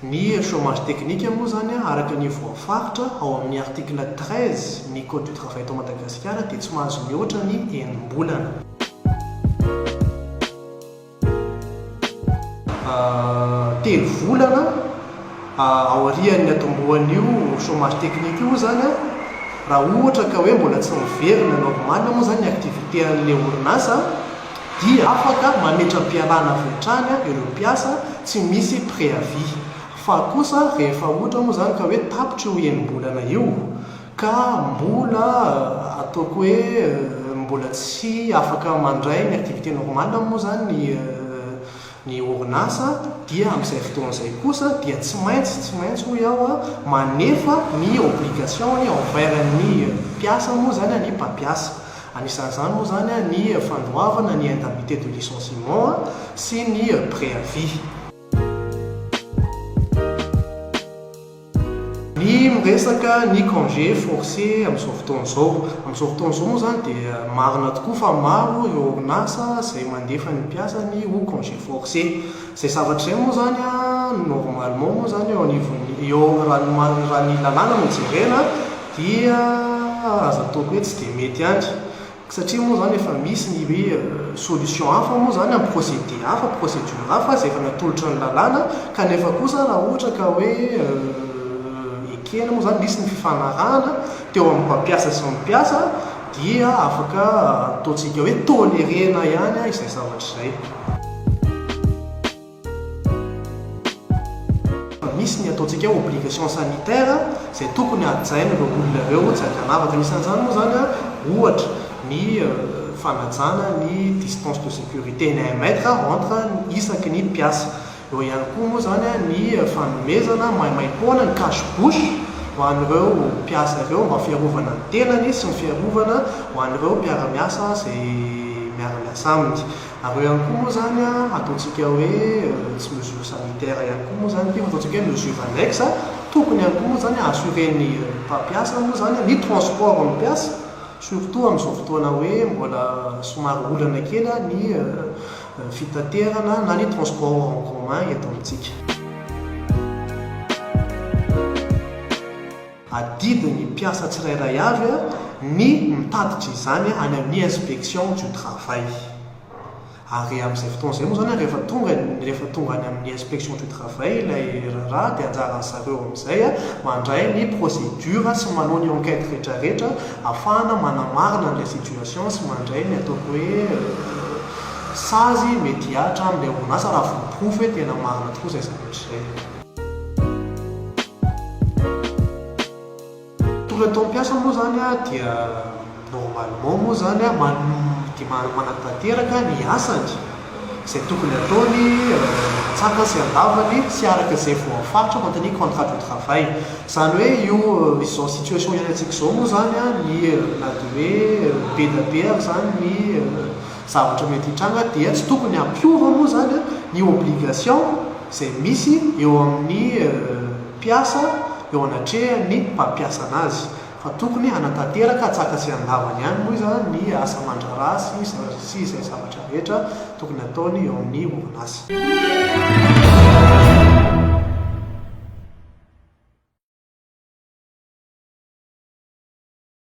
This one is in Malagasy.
Ny chômage technique moa izany araka ny voafaritra ao amin'ny article treize ny code du travail eto Madagasikara dia tsy mahazo mihoatra ny enim-bolana. Telo volana aorian'ny hatombohan'io chômage technique io moa izany raha ohatra ka hoe mbola tsy miverina normal moa izany ny activité an'ilay orinasa dia afaka mametra-pialana avy hatrany ireo mpiasa tsy misy préavis, fa kosa rehefa ohatra moa izany ka hoe tapitra io enim-bolana io ka mbola ataoko hoe mbola tsy afaka mandray ny activité normale moa izany ny. Ny orinasa dia amin'izay fotoana izay kosa dia tsy maintsy, tsy maintsy hoy aho, manefa ny obligation-ny envers ny mpiasa moa izany ny mpampiasa. Anisan'izany moa izany ny fandoavana ny indemnité de licenciement sy ny préavis. Ny miresaka ny congé forcé amin'izao fotoana izao. Amin'izao fotoana izao moa izany dia marina tokoa fa maro ireo orinasa izay mandefa ny mpiasany ho congé forcé. Izay zavatra izay moa izany normalement moa izany eo anivon'ny, eo amin'ny, raha ny lalàna no jerena dia aza atao hoe tsy dia mety ihany. Satria moa izany efa misy ny hoe solution hafa moa izany amin'ny procédé hafa, procédure hafa izay efa natolotry ny lalàna kanefa kosa raha ohatra ka hoe ekena moa izany, misy ny fifanarahana teo amin'ny mpampiasa sy ny mpiasa dia afaka ataontsika hoe tolérer-na ihany izay zavatra izay. Misy ny ataontsika obligation sanitaire izay tokony hajaina ireo olona ireo tsy aty an-davaka. Anisan'izany moa izany ohatra ny fanajana ny distance de sécurité ny un mètre entre isaky ny mpiasa. Eo ihany koa moa izany ny fanomezana maimaim-poana ny cache bouche ho an'ireo mpiasa ireo mba fiarovana ny tenany sy ny fiarovana ho an'ireo mpiara-miasa izay miara-miasa aminy. Ary eo ihany koa moa izany ataontsika hoe tsy mesure sanitaire ihany koa moa izany ity fa ataontsika hoe mesure annexe, tokony ihany koa moa izany assurer-n'ny mpampiasa moa izany ny transport-n'ny mpiasa, surtout amin'izao fotoana hoe mbola somary olana kely ny fitaterana na ny transport en commun eto amintsika. Adidy ny mpiasa tsirairay avy ny mitatitra izany any amin'ny inspection du travail. Ary amin'izay fotoana izay moa izany, rehefa tonga, rehefa tonga any amin'ny inspection du travail ilay raharaha dia anjaran'ny zareo amin'izay mandray ny procédure sy manao ny enquête rehetrarehetra ahafahana manamarina an'ilay situation sy mandray ny ataoko hoe sazy mety hihatra amin'ilay orinasa raha voaporofo hoe tena marina tokoa izay zavatra izay. Tonga tao am-piasa moa izany dia normalement moa izany manohy dia manatanteraka ny asany, izay tokony hataony an-tsakany sy an-davany tsy araka izay voafaritra ao anatin'ny contrat de travail. Izany hoe io izao situation iainantsika izao moa izany ny na dia hoe be dia be aza izany ny Zavatra mety hitranga dia tsy tokony hampiova moa izany ny obligation izay misy eo amin'ny mpiasa eo anatrehan'ny mpampiasa anazy fa tokony hanatanteraka an-tsaka sy an-davany ihany moa izany ny asa aman-draharaha sy izay zavatra rehetra tokony hataony eo amin'ny orinasa.